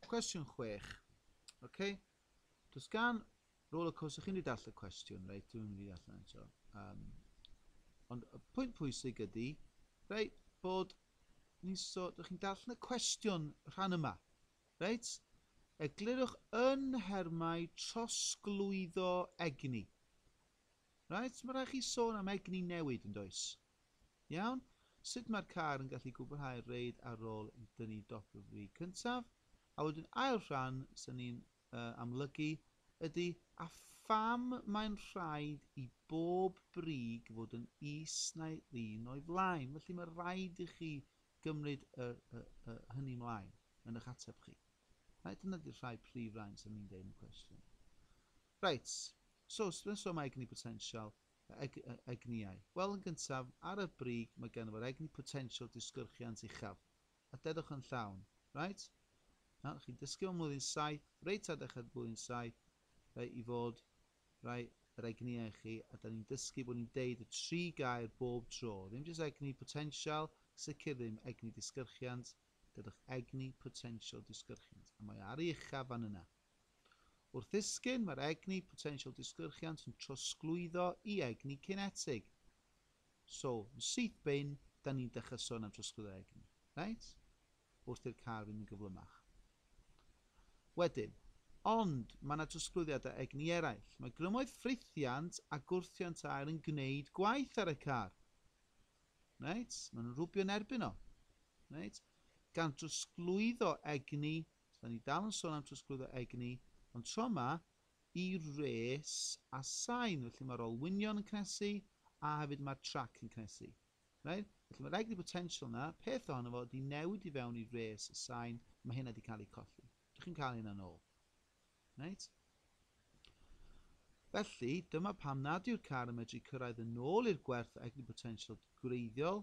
Cwestiwn chwech. OK. Does gan roller coaster, chi'n mynd i dall y cwestiwn, reit, dwi'n mynd i dall yna eto. Um, ond y pwynt pwysig ydy, reit, bod ni'n so, dych chi'n dall y cwestiwn rhan yma, reit? Eglurwch yn nhermau trosglwyddo egni. Reit, mae rhaid chi sôn am egni newid yn does. Iawn, sut mae'r car yn gallu gwblhau'r reid ar ôl i dynnu dop y frig cyntaf? A wedyn ail rhan sy'n ni'n uh, amlygu ydy a pham mae'n rhaid i bob brig fod yn is na'i ddyn o'i flaen. Felly mae rhaid i chi gymryd y, y, y, hynny mlaen yn eich ateb chi. Right, dyna di'r rhai prif rain sy'n ni'n deud yn y cwestiwn. Right, so, sbyn so mae egni potensial, egniau. Wel, yn gyntaf, ar y brig mae ganddo fo'r egni potensial disgyrchiant uchaf. A dedwch yn llawn. Reit? Nawr, chi'n dysgu mewn mlwyddyn saith, reit ar ddechrau'r blwyddyn saith, rei i fod, rei yr egniau chi, a da ni'n dysgu bod ni'n deud y tri gair bob tro. Ddim jyst egni potensial, sicr ddim egni disgyrchiant, dedwch egni potensial disgyrchiant. A mae ar ei uchaf fan yna. Wrth ddisgyn, mae'r egni potensial disgyrchiant yn trosglwyddo i egni cinetig. So, yn syth bin, da ni'n dechrau sôn am trosglwyddo egni. Reit? Wrth i'r car fynd yn gyflymach. Wedyn, ond mae yna trosglwyddiadau egni eraill. Mae grymoedd ffrithiant a gwrthiant aer yn gwneud gwaith ar y car. Reit? Maen nhw'n rhwbio yn erbyn o. Reit? Gan drosglwyddo egni Da ni dal yn sôn am trosglwyddo egni, ond tro ma i res a sain, felly mae'r olwynion yn cnesu a hefyd mae'r trac yn cnesu. Right? Felly mae'r egni potential yna, peth ohono fo di newid i fewn i res a sain, mae hynna di cael ei colli. Dych chi'n cael hynna'n ôl. Reit. Felly, dyma pam nad yw'r car yn medru cyrraedd yn ôl i'r gwerth egni-botensial gwreiddiol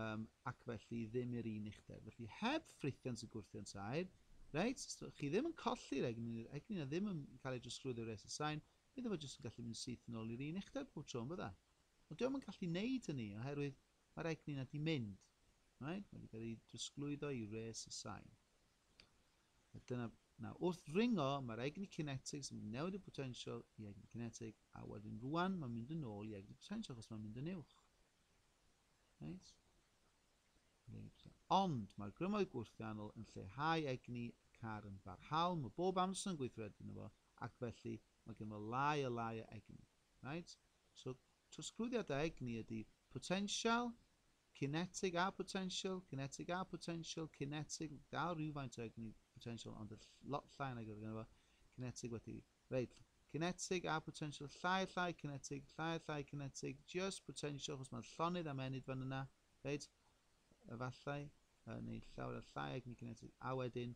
um, ac felly ddim i'r un uchder. Felly, heb ffrithiant y gwrthiant aer, reit, chi ddim yn colli'r egni, yr egni na ddim yn cael ei drosglwyddo i'r reset sign, bydde fo jyst yn gallu mynd syth yn ôl i'r un uchder pob tro yn bydde. Ond diolch yn gallu wneud hynny oherwydd mae'r egni na di mynd. Right? Mae wedi cael ei drosglwyddo i reset sign. A dyna, na, wrth ddringo, mae'r egni cinetig, sy'n mynd newid y potensial i egni cinetig, a wedyn rwan mae'n mynd yn ôl i egni potensial, achos mae'n mynd yn uwch. Right? Ond mae'r grymoedd gwrthiannol yn lleihau egni y car yn barhaol, mae bob amser yn gweithredu yno fo, ac felly mae gen fo lai a lai o egni. Right? So, trosglwyddiad o egni ydy potensial Cinetig a photensial, cinetig a photensial, cinetig, dal rhywfaint o egni photensial ond lot llai nag oedd ganddo fo, cinetig wedi, reit, cinetig a photensial, llai, llai, cinetig, llai, llai, cinetig, just photensial, chos mae'n llonydd am enid fan yna, reit, efallai, neu llawer o llai egni cinetig, a wedyn,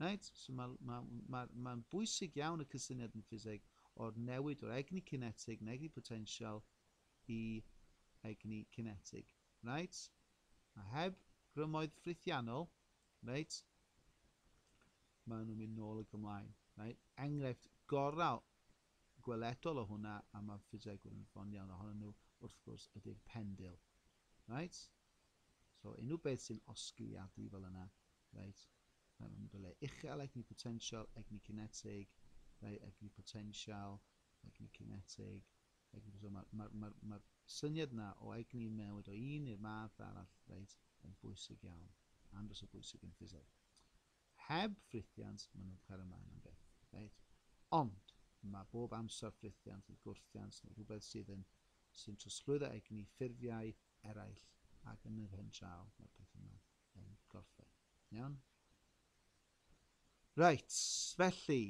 Reit, so mae'n ma, ma, ma bwysig iawn y cysyniad yn ffiseg o'r newid o'r egni cinetig yn egni potensial i egni cinetig. Reit, a heb grymoedd ffrithiannol, reit, maen nhw'n mynd nôl y gymlaen. Reit, enghraifft gorau gweledol o hwnna, a mae ffisegwyr yn ffon iawn ohonyn nhw, wrth gwrs, ydy'r pendil. Reit, so unrhyw beth sy'n osgiliadu fel yna, Reit, mae'n mynd o le uchel, egni potensial, egni cinetig, reit, egni potensial, egni cinetig, egni potensial. Mae'r ma, ma, ma, ma syniad yna o egni yn newid o un i'r math arall, reit, yn bwysig iawn, andros o bwysig yn ffiseg. Heb ffrithiant, maen nhw'n cael ymlaen am beth, reit? Ond, mae bob amser ffrithiant neu gwrthiant neu rhywbeth sydd yn sy'n trosglwyddo egni ffurfiau eraill ac yn yr hen draw mae'r peth yma yn gorffen. Iawn? Reit, felly,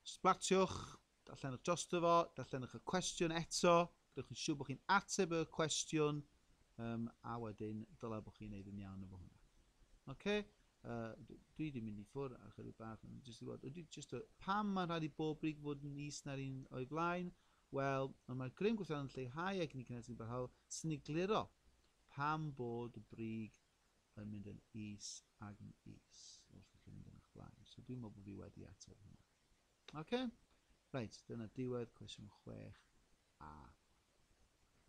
sblatiwch, darllenwch drosto fo, darllenwch y cwestiwn eto, gwnewch yn siŵr bod chi'n ateb y cwestiwn, um, a wedyn dylai bod chi'n neud yn iawn efo hwnna. Oce? Okay? Uh, dwi wedi mynd i ffwr ar chydig bach, jyst i fod, ydy, jyst o, pam mae'n rhaid i bob brig fod yn is na'r un o'i flaen? Wel, ond mae'r grym gweithio'n lleihau ac ni cynnes yn barhaol, sy'n ei gliro. Pam bod y brig yn mynd yn is ag yn is wrth i chi fynd yn eich blaen? So dwi'n meddwl bod fi wedi ateb hwnna. Oce? Okay? Reit, dyna diwedd cwestiwn 6a.